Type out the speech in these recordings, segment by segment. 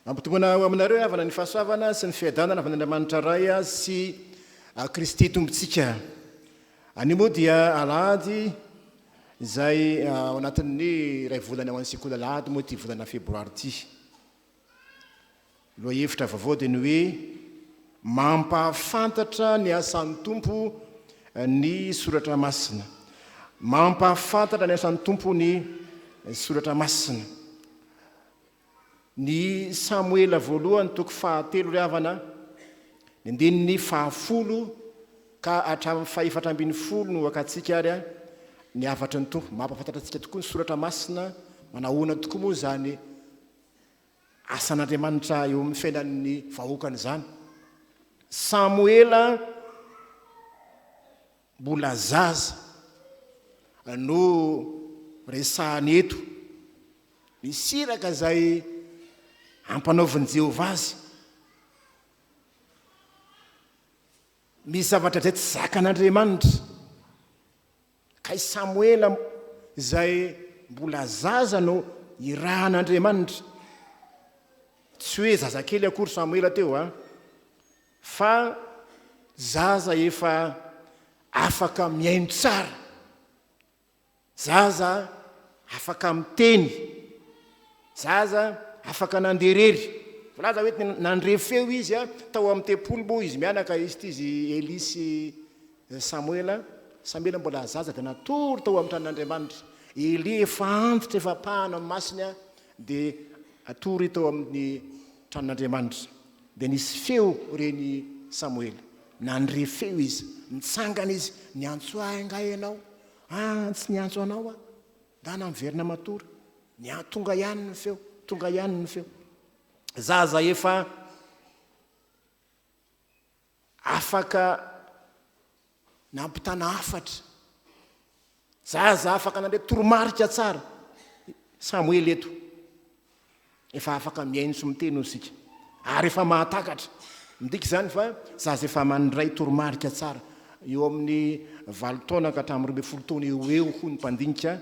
Mampitongona ho aminareo havana ny fahasoavana sy ny fiadanana avy any Andriamanitra Ray sy Kristy Tompontsika. Anio moa dia alahady izay ao anatin'ny iray volana ho an'ny sekoly alahady moa ity volana febroary ity. Ny lohahevitra vaovao dia ny hoe Mampahafantatra ny asan'ny Tompo ny soratra masina. Mampahafantatra ny asan'ny Tompo ny soratra masina. Ny Samoela voalohany toko fahatelo ry havana, ny andininy fahafolo ka hatramin'ny fahefatra ambin'ny folo no hakatsika ary a, ny hafatry ny Tompo. Mampahafantatra antsika tokoa ny soratra masina, manahoana tokoa moa izany asan'Andriamanitra eo amin'ny fiainan'ny vahoakany izany. Samoela mbola zaza no resahany eto. Ny siraka izay ampanaovin'i Jehovah azy. Misy zavatra izay tsy zakan'Andriamanitra. Ka i Samoela izay mbola zaza no irahan'Andriamanitra. Tsy hoe zazakely akory Samoela teo an, fa zaza efa afaka mihaino tsara, zaza afaka miteny, zaza afaka nandeha irery. Voalaza hoe nandre feo izy tao amin'ny tempoly moa izy mianaka izy ity izy Elia sy I Samoela, Samoela mbola zaza dia natory tao amin'ny tranon'Andriamanitra. I Elia efa antitra, efa ampahana amin'ny masina dia atory tao amin'ny tranon'Andriamanitra. Dia nisy feo ren'i Samoela. Nandre feo izy. Nitsangana izy. Niantso ahy angaha ianao? An, tsy niantso anao aho. Angaha miverina matory. Nia, tonga ihany ny feo. Tonga ihany ny feo. Zaza efa Afaka nampitana hafatra. Zaza afaka nandre toromarika tsara i Samoela eto. Efa afaka mihaino sy miteny hoy isika. Ary efa mahatakatra. Midika izany fa zaza efa mandray toromarika tsara. Eo amin'ny valo taona ka hatramin'ny roa ambin'ny folo taona eo ho eo hoy ny mpandinika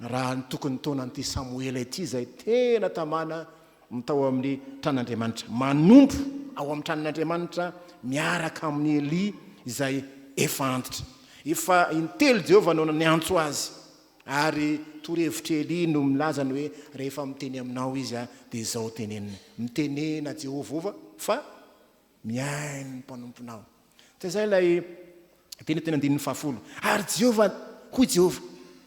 Raha nitoky ny taona an'ity Samoela ity izay tena tamana ny tao amin'ny tran'Andriamanitra, manompo ao amin'ny tranon'Andriamanitra miaraka amin'i Elia izay efa antitra. Efa intelo Jehovah no niantso azy, ary torohevitr'i Elia no milaza ny hoe rehefa miteny aminao izy dia izao teneniny, Mitenena Jehovah fa. Mihaino ny mpanomponao. Tsy izay ilay teny teny andininy fahafolo. Ary Jehovah, hoy Jehovah,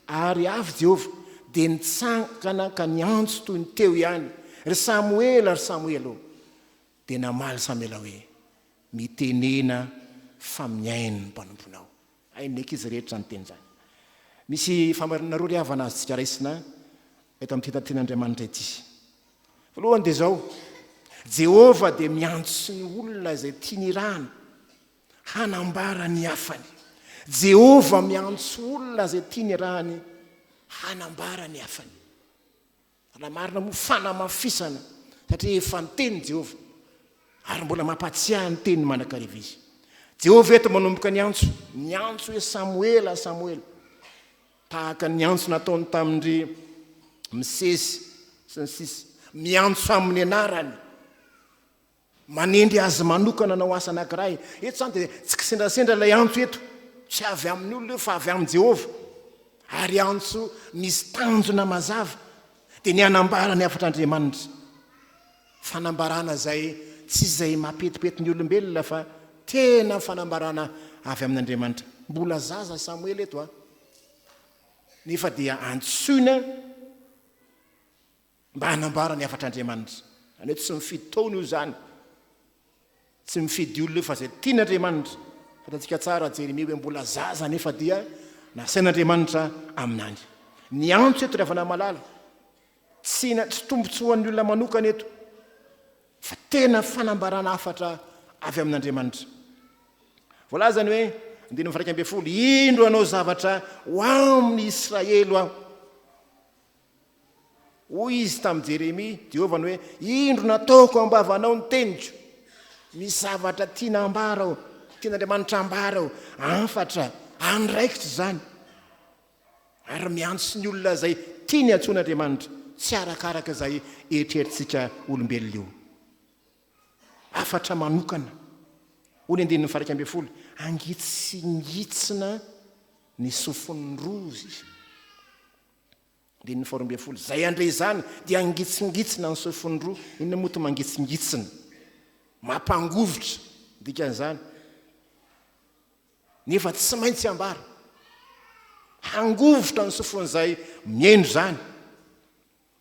ary avy Jehovah dia nitsangana ka niantso toy ny teo ihany, Ry Samoela, ry Samoela ô! Dia namaly Samoela hoe, Mitenena fa mihaino ny mpanomponao. Hain'ny ankizy rehetra izany teny izany. Misy fahamarinana roa ry havana azontsika raisina eto amin'ity takian'Andriamanitra ity. Voalohany dia izao, Jehovah dia miantso ny olona izay tiany irahana hanambara ny hafany. Jehovah miantso olona izay tiany irahany hanambara ny hafany. Raha marina moa, fanamafisana, satria efa niteny Jehovah, ary mbola mampahatsiahy ny teniny mandrakariva izy. Jehovah eto manomboka niantso, niantso hoe, Samoela, Samoela. Tahaka ny antso nataony tamin-dry Mosesy, sy ny sisa. Miantso amin'ny anarany. Manendry azy manokana hanao asa anankiray. Eto izany dia tsy kisendrasendra ilay antso eto. Tsy avy amin'ny olona io fa avy amin'i Jehovah. Ary antso misy tanjona mazava. Dia ny hanambara ny hafatr'Andriamanitra. Fanambarana izay tsy izay mampetipety ny olombelona fa tena fanambarana avy amin'Andriamanitra. Mbola zaza Samoela eto an. Nefa dia antsoina. mba hanambara ny hafatr'Andriamanitra. Izany hoe tsy mifidy taona io izany, tsy mifidy olona io fa izay tian'Andriamanitra. Fantatsika tsara Jeremia hoe mbola zaza nefa dia nasain'Andriamanitra amin'any. Ny antso eto ry havana malala, tsy tsy tombontsoan'ny olona manokana eto fa tena fanambarana hafatra avy amin'Andriamanitra. Voalazany hoe andininy fairaika ambin'ny folo, indro anao zavatra ho amin'ny Israely aho. Hoy izy tamin'i Jeremia, Jehovah no hoe, Indro nataoko am-bavanao ny teniko, misy zavatra tiana hambara aho, tian'Andriamanitra hambara aho, hafatra, andraikitra izany. Ary miantso ny olona izay tiany antsoin'Andriamanitra, tsy arakaraka izay eritreritsika olombelona io. Hafatra manokana. Hoy ny andininy faha-iraika ambin'ny folo, Angitsingitsina ny sofin'ny roa izy. Andininy faharoa ambin'ny folo, Izay handre izany dia hangitsingitsina ny sofiny roa. Inona moa ity mangitsingitsina? Mampangovitra ny dikan'izany. Nefa tsy maintsy ambara. Hangovitra ny sofin'izay mihaino izany.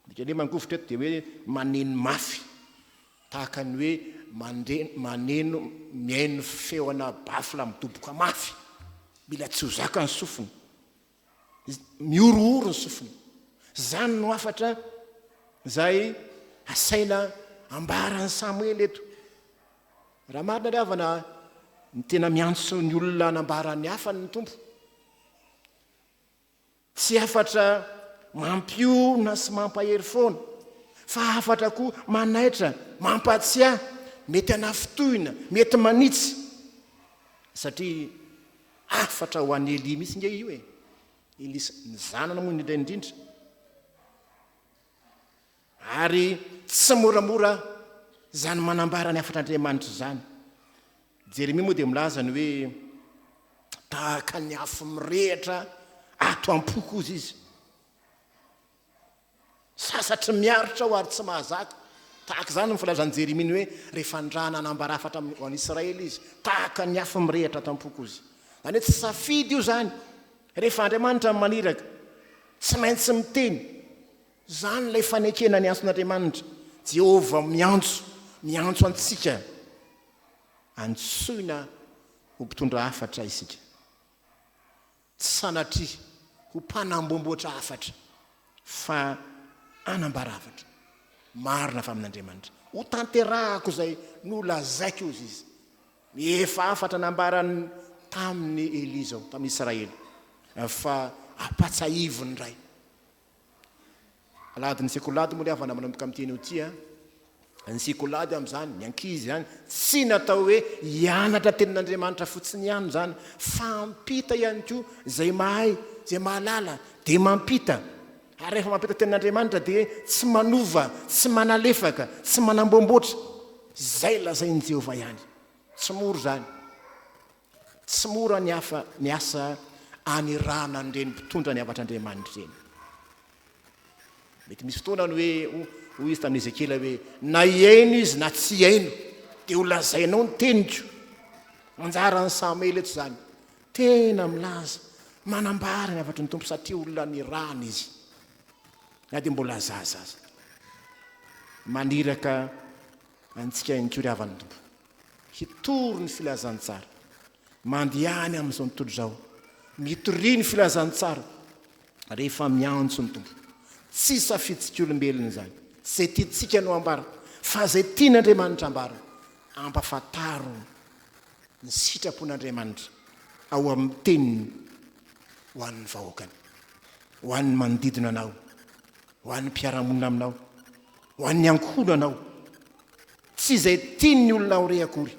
Dikany hoe mangovitra eto dia hoe maneno mafy. Tahaka ny hoe maneno mihaino feona baffle midoboka mafy. Mila tsy ho zakany sofina. Mihorohoro ny sofiny. Izany no hafatra izay asaina ambaran'i Samoela eto. Raha marina ary havana, ny tena miantso ny olona hanambara ny hafany ny Tompo. Tsy hafatra mampiorina sy mampahery foana, fa hafatra koa manaitra, mampatsiahy, mety hanafintohina, mety manitsy. Satria Hafatra ho an'i Elia mihitsy nge io e! Elisa, ny zanany moa indrindra indrindra. Ary tsy moramora izany manambara ny hafatr'Andriamanitra izany. Jeremia moa dia milaza ny hoe tahaka ny afo mirehitra ato am-poko koa izy. Sasatry miaritra aho ary tsy mahazaka. Tahaka izany no filazan'i Jeremia ny hoe, Rehefa ndra nanambara hafatra amin'ny ho an'Israely izy, tahaka ny afo mirehitra ato am-poko izy. Izany hoe tsy safidy io izany. Rehefa Andriamanitra no maniraka, tsy maintsy miteny. Izany ilay fanekena ny antson'Andriamanitra. Jehovah miantso, miantso antsika. Antsoina ho mpitondra hafatra isika. Tsy sanatria ho mpanamboamboatra hafatra, fa hanambara hafatra marina avy amin'Andriamanitra. Hotanterahako izay nolazaiko, hoy Izy. Ny efa hafatra nambarany tamin'i Elia izao, tamin'ny Israely, fa ampatsahiviny indray. Alahady ny sekolady moa le havana manomboka amin'ity anio ity a. Ny sekolady amin'izany, ny ankizy izany, tsy natao hoe hianatra tenin'Andriamanitra fotsiny ihany izany fa hampita ihany koa izay mahay, izay mahalala dia mampita. Ary rehefa mampita tenin'Andriamanitra dia tsy manova, tsy manalefaka, tsy manamboamboatra. Izay lazain'i Jehovah ihany. Tsy mora izany. Tsy mora ny hafa ny asa anirahana an'ireny mpitondra ny havatr'Andriamanitra ireny. Mety misy fotoana ny hoe hoy izy tamin'i Ezekiela hoe na hihaino izy na tsy hihaino dia ho lazainao ny teniko. Anjaran'i Samoela eto izany. Tena milaza, manambara ny havatry ny Tompo satria olona nirahana izy. Na dia mbola zaza aza. Maniraka antsika ihany koa ry havan'ny Tompo. Hitory ny filazantsara. Mandeha any amin'izao tontolo izao. Mitoria ny filazantsara rehefa miantso ny Tompo. Tsy safitsik'olombelona izany. Tsy izay tiantsika no ambara, fa izay tian'Andriamanitra ambara. Ampafantaro ny sitrapon'Andriamanitra ao amin'ny Teniny ho an'ny vahoakany, ho an'ny manodidina anao, ho an'ny mpiara-monina aminao, ho an'ny ankohonanao. Tsy izay tian'ny olona ho re akory,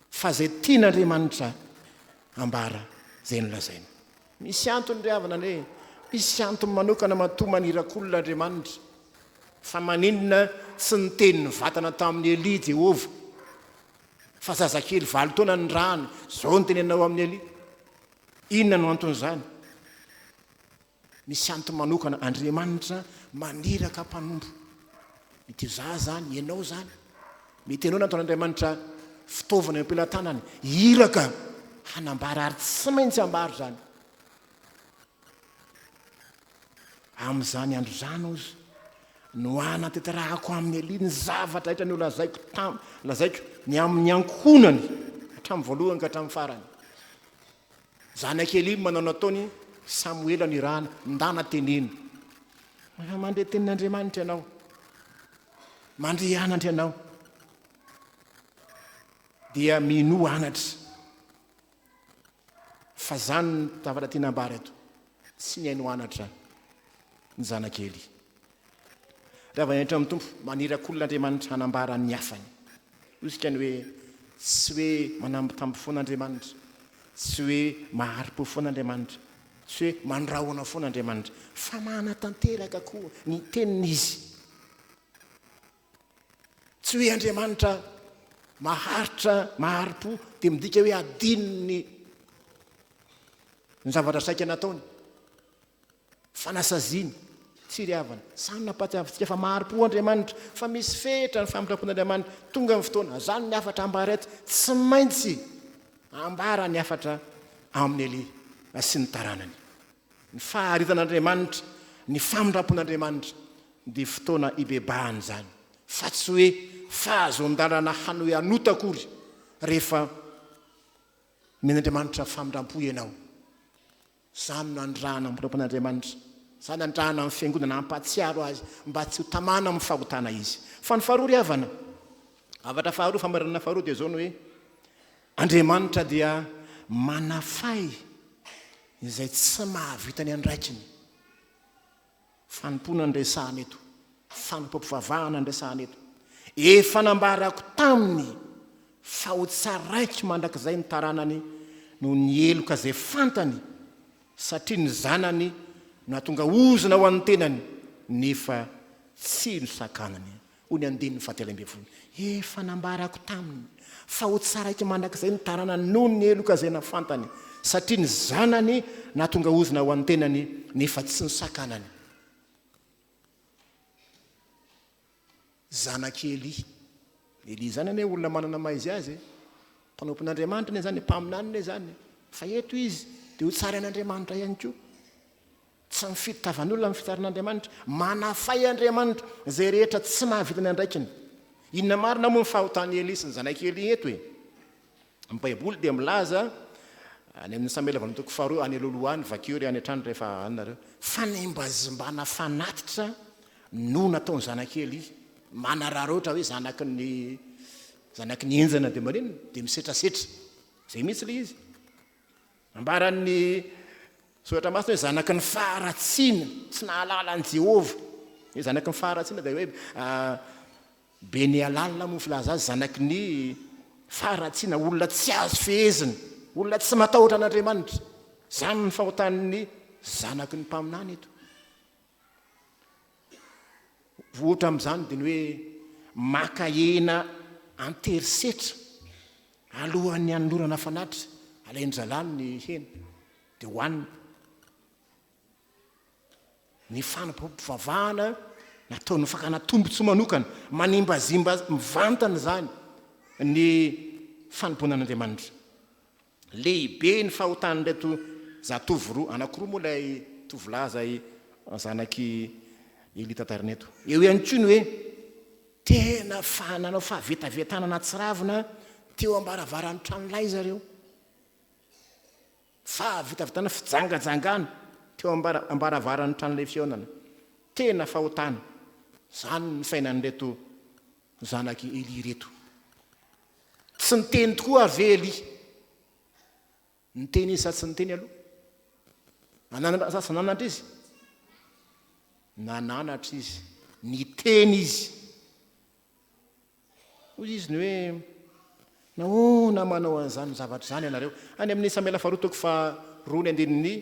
fa izay tian'Andriamanitra hambara izay nolazaina. Misy antony ry havana anie, misy antony manokana matoa maniraka olona Andriamanitra. Fa maninona tsy niteny nivantana tamin'i Elia i Jehovah fa zazakely valo taona nirahany? Izao no teny anao amin'i Elia, Inona no anton'izany? Misy antony manokana Andriamanitra maniraka mpanompo. Mety ho za zany, ianao zany. Mety ianao nataon'Andriamanitra fitaovana eo am-pelatanany, iraka hanambara ary tsy maintsy ambaro zany. Amin'izany andro izany ozy no hanatanterahako amin'ny Elia ny zavatra rehetra nolazaiko tam, lazaiko ny amin'ny ankohonany hatramin'ny voalohany ka hatramin'ny farany. Zanak'i Elỳ manao ny nataon'i Samoela nirahana, Ndana teneno. Rehefa mandre tenin'Andriamanitra ianao, mandre anatra ianao, dia minoa anatra. Fa izany ny zavatra tiana ambara eto. Tsy nihaino anatra ny zanak'i Elỳ. Rava henatra amin'ny Tompo, maniraka olona Andriamanitra hanambara ny hafany. Hoizika ny hoe tsy hoe manambitamby foana Andriamanitra, tsy hoe mahari-po foana Andriamanitra, tsy hoe mandrahona foana Andriamanitra, fa manatanteraka koa ny teniny Izy. Tsy hoe Andriamanitra maharitra, mahari-po, dia midika hoe adinony ny zavatra saika nataony. Fanasaziana, firiavana, samy nampahatiavintsika fa mahari-po Andriamanitra, fa misy fehitra ny famindrapon'Andriamanitra. Tonga ny fotoana, izany ny hafatra ambara eto, tsy maintsy ambara ny hafatra amin'i Elia sy ny taranany. Ny faharitan'Andriamanitra, ny famindrampon'Andriamanitra dia fotoana hibebahana izany, fa tsy hoe fahazoan-dalana hanohy hanota akory rehefa omen'Andriamanitra famindrampo ianao. Izany no andrahana ny mpanompon-Andriamanitra. Izany andrahana ny Fiangonana hampahatsiaro Azy mba tsy ho tamana amin'ny fahotana izy. Fa ny faharoa ry havana, zavatra faharoa, famarinana faharoa dia izao ny hoe, Andriamanitra dia manafay izay tsy mahavita ny andraikiny. Fanompoana no resahana eto. Fanompoam-pivavahana no resahana eto. Efa nambarako taminy fa ho tsaraiky mandrakizay ny taranany noho ny heloka izay fantany satria ny zanany no nahatonga ozona ho an'ny tenany nefa tsy nosakanany. Hoy ny andininy fahatelo ambin'ny folo, Efa nambarako taminy fa ho tsaraiky mandrakizay ny taranany noho ny heloka izay nafantany, satria ny zanany nahatonga ozona ho an'ny tenany, nefa tsy nosakanany. Zanak'i Elia. Elia izany anie olona manana maha izy azy e. Mpanompon'Andriamanitra anie izany e, mpaminany anie izany e. Fa eto izy dia ho tsarain'Andriamanitra ihany koa. Tsy mifidy tavan'olona ny fitiaran'Andriamanitra. Manafay Andriamanitra izay rehetra tsy mahavita ny andraikiny. Inona marina moa ny fahotan'i Elia sy ny zanak'i Elia eto e? Ny Baiboly dia milaza any amin'ny Samoela voalohany toko faharoa any aloha aloha any, vakio re any an-trano rehefa any nareo, fanimbazimbana fanatitra no nataon'ny zanak'i Elia. Manararaotra hoe zanaky ny zanaky ny henjana dia maninona? Dia misetrasetra. Izay mihitsy ilay izy. Nambaran'ny Soratra Masina hoe zanaky ny faharatsiana, tsy nahalala an'i Jehovah. Ny hoe zanaky ny faharatsiana dia hoe be ny halalina moa ny filazana azy, zanaky ny faharatsiana, olona tsy azo fehezina, olona tsy matahotra an'Andriamanitra. Izany ny fahotan'ny zanaky ny mpaminany eto. Ohatra amin'izany dia ny hoe maka hena an-tery setra alohan'ny hanolorana fanatitra, alain'ny zalahy ny hena dia hohaniny. Ny fanampivavahana nataon'ny fakana tombontsoa manokana, manimbazimba mivantana izany ny fanompoana an'Andriamanitra. Lehibe ny fahotan'ireto zatovo roa, anankiroa moa ilay tovolahy izay zanak'i Elia tatarina eto. Eo ihany koa ny hoe tena nanao fahavetavetana nahatsiravina teo am-baravaran'ny tranolay zareo. Fahavetavetana, fijangajangana teo am-baravaran'ny tranolay fihaonana. Tena fahotana. Izany ny fiainan'ireto zanak'i Elia ireto. Tsy niteny tokoa ary ve Elia? Niteny izy sa tsy niteny aloha? Nananatra sa tsy nananatra izy? Nananatra izy. Niteny izy. Hoy izy ny hoe nahoana manao an'izany zavatra izany ianareo? Any amin'ny Samoela faharoa toko faharoa ny andininy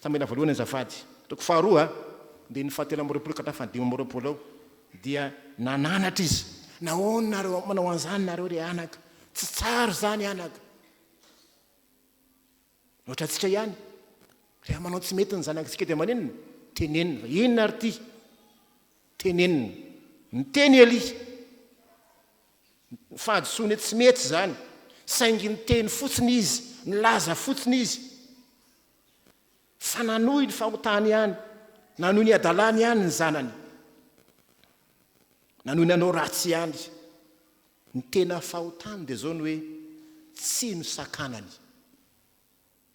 Samoela voalohany azafady. Toko faharoa dia ny fahatelo amby roapolo ka hatramin'ny fahadimy amby roapolo ao. Dia nananatra izy. Nahoana nareo manao an'izany nareo ry anaka? Tsy tsara izany anaka. Ohatra antsika ihany. Rehefa manao tsy mety ny zanakitsika dia maninona? Tenenina fa inona ary ity? Tenenina. Niteny Elia. Fahadisoany hoe tsy mety izany. Saingy niteny fotsiny izy, nilaza fotsiny izy. Fa nanohy ny fahotany ihany, nanohy ny hadalany ihany ny zanany. Nanohy nanao ratsy ihany. Ny tena fahotany dia izao ny hoe tsy nosakanany.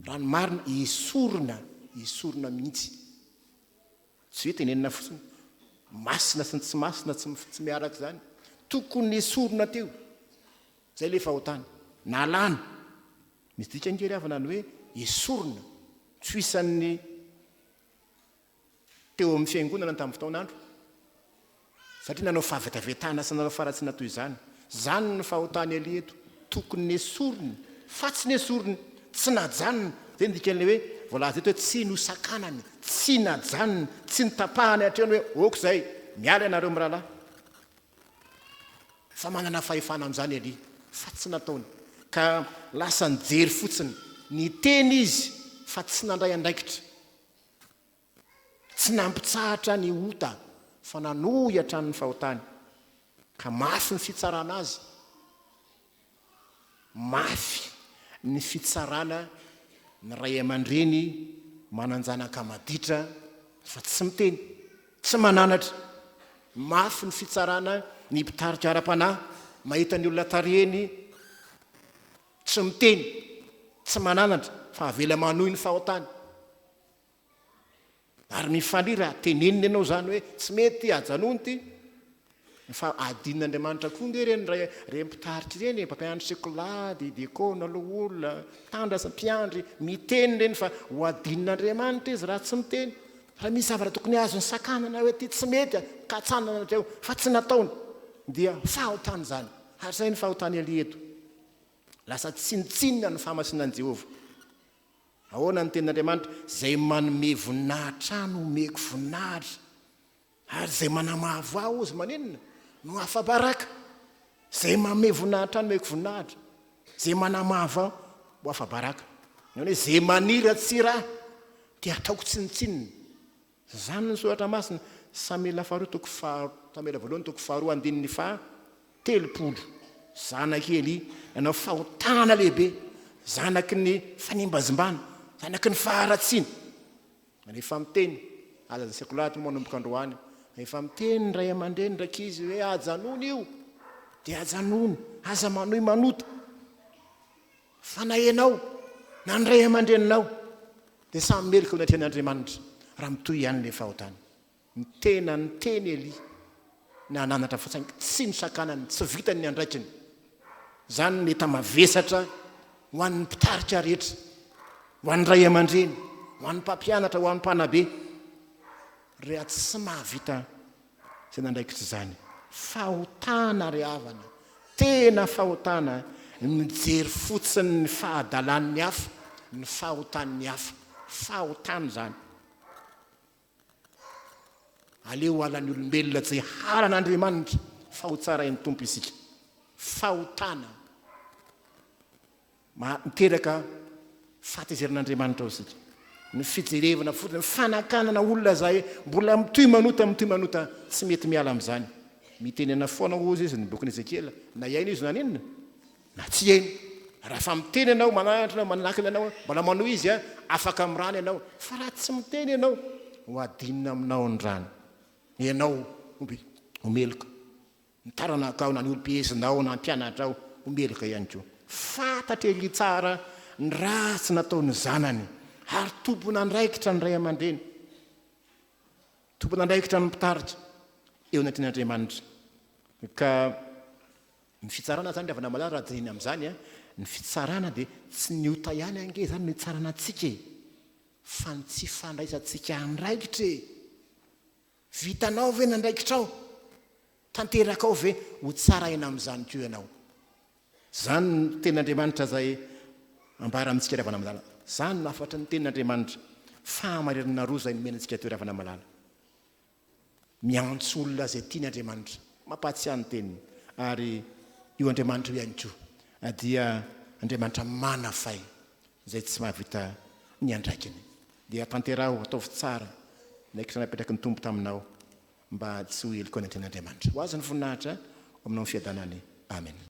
Raha ny marina, esorina, esorina mihitsy. Tsy hoe tenenina fotsiny, masina sy ny tsy masina tsy tsy miaraka izany. Tokony nesorina teo. Izay ilay fahotany. Nalana. Ny dikan-kery havana ny hoe esorina, tsy ho isan'ny teo amin'ny fiangonana tamin'ny fotoan'andro, satria nanao fahavetavetana sy nanao faratsiana toy izany. Izany no fahotan'i Elia eto, tokony nesoriny, fa tsy nesoriny, tsy najanony. Izay no dikan'ilay hoe voalaza eto hoe tsy nosakanany, tsy najanony, tsy notapahany hatreo ny hoe ok izay, miala ianareo mirahalahy. Fa manana fahefana amin'izany Elia, fa tsy nataony, ka lasa nijery fotsiny. Niteny izy, fa tsy nandray andraikitra. Tsy nampitsahatra ny ota, fa nanohy hatrany ny fahotany, ka mafy ny fitsarana azy. mafy ny fitsarana ny ray aman-dreny manan-janaka maditra fa tsy miteny, tsy mananatra. Mafy ny fitsarana ny mpitarika ara-panahy mahita ny olona tarihiny tsy miteny, tsy mananatra fa avela manohy ny fahotany. Ary mifalia raha teneniny ianao izany hoe tsy mety ity, ajanony ity. Fa adin'Andriamanitra koa ange ireny ray ireny mpitarika ireny e, mpampianatra sekolah, dia diakona, loholona, mpitandrina sy mpiandry, miteny ireny fa ho adin'Andriamanitra izy raha tsy miteny. Raha misy zavatra tokony azony sakanana hoe ity tsy mety, katsanana hatreo fa tsy nataony dia fahotana izany. Ary izay ny fahotan'i Elia eto. Lasa tsinontsinona ny fahamasinan'i Jehovah. Ahoana ny Tenin'Andriamanitra? Izay manome voninahitra no omeko voninahitra, ary izay manamavo ahy hozy maninona? no afa-baraka. Izay manome voninahitra no omeko voninahitra, izay manamavo ahy ho afa-baraka. Izany hoe izay maniratsira ahy dia hataoko tsinontsinona. Izany ny soratra masina, Samela faharoa toko faha, Samela voalohany toko faharoa andininy faha telopolo. Zanaky i Elia nanao fahotana lehibe, zanaky ny fanimbazimbana, zanaky ny faharatsiana. Rehefa miteny, aza aseky loatra moa manomboka androany, rehefa miteny ny ray aman-dreny ny rankizy hoe ajanony io, dia ajanony, aza manohy manota. Fanahinao na ny ray aman-dreninao dia samy meloka eo anatrehan' Andriamanitra raha mitohy ihany ilay fahotana. Ny tena niteny Elia na nananatra fa saingy tsy nosakanany, tsy vitany ny andraikiny. Izany no mety hamavesatra ho an'ny mpitarika rehetra, ho an'ny ray aman-dreny, ho an'ny mpampianatra, ho an'ny mpanabe, reha tsy mahavita Tena andraikitra izany. Fahotana ry havana, tena fahotana ny mijery fotsiny ny fahadalan'ny hafa, ny fahotan'ny hafa. Fahotana izany. Aleo halan'ny olombelona tsy halan'Andriamanitra fa ho tsarain'ny Tompo isika. Fahotana. Maha miteraka fahatezerana Andriamanitra ao isika. Ny fijerevana fotsiny, ny fanakanana olona izay mbola mitohy manota, mitohy manota, tsy mety miala amin'izany. Mitenena foana hozy izy ny bokin'i Ezekiela, na hiaino izy na haninona, na tsy hiaino. Raha fa miteny ianao, mananatra ianao, manakana ianao, mbola manohy izy, afaka amin'ny rany ianao. Fa raha tsy miteny ianao, ho adinina aminao ny rany. Ianao ho meloka. Ny taranakao na ny olom-piezinao na ny mpianatrao ho meloka ihany koa. Fantatr'i Elia tsara ny ratsy nataon'ny zanany ary tompon'andraikitra ny ray aman-dreny. Tompon'andraikitra ny mpitarika eo anatrehan'Andriamanitra. Ka ny fitsarana izany, ravana malala raha dinihina amin'izany, ny fitsarana dia tsy ny ota ihany ange izany no hitsarana antsika e! Fa ny tsy fandraisantsika andraikitra e! Vitanao ve ny andraikitrao? Tanterakao ve ho tsara aina amin'izany koa ianao? Izany no Tenin'Andriamanitra izay ambara amintsika ry havana malala. Izany no hafatry ny Tenin'Andriamanitra, fahamarinana roa izay nomena antsika teo ry havana malala. Miantso olona izay tiany Andriamanitra, mampahatsiahy ny Teniny, ary io Andriamanitra io ihany koa dia Andriamanitra manafay, Izay tsy mahavita ny andraikiny dia tanteraho, ataovy tsara ny ankitrano apetraky ny Tompo taminao mba tsy ho heloka ny Anten'Andriamanitra. Ho Azy ny voninahitra ho aminao ny fiadanany. Amena.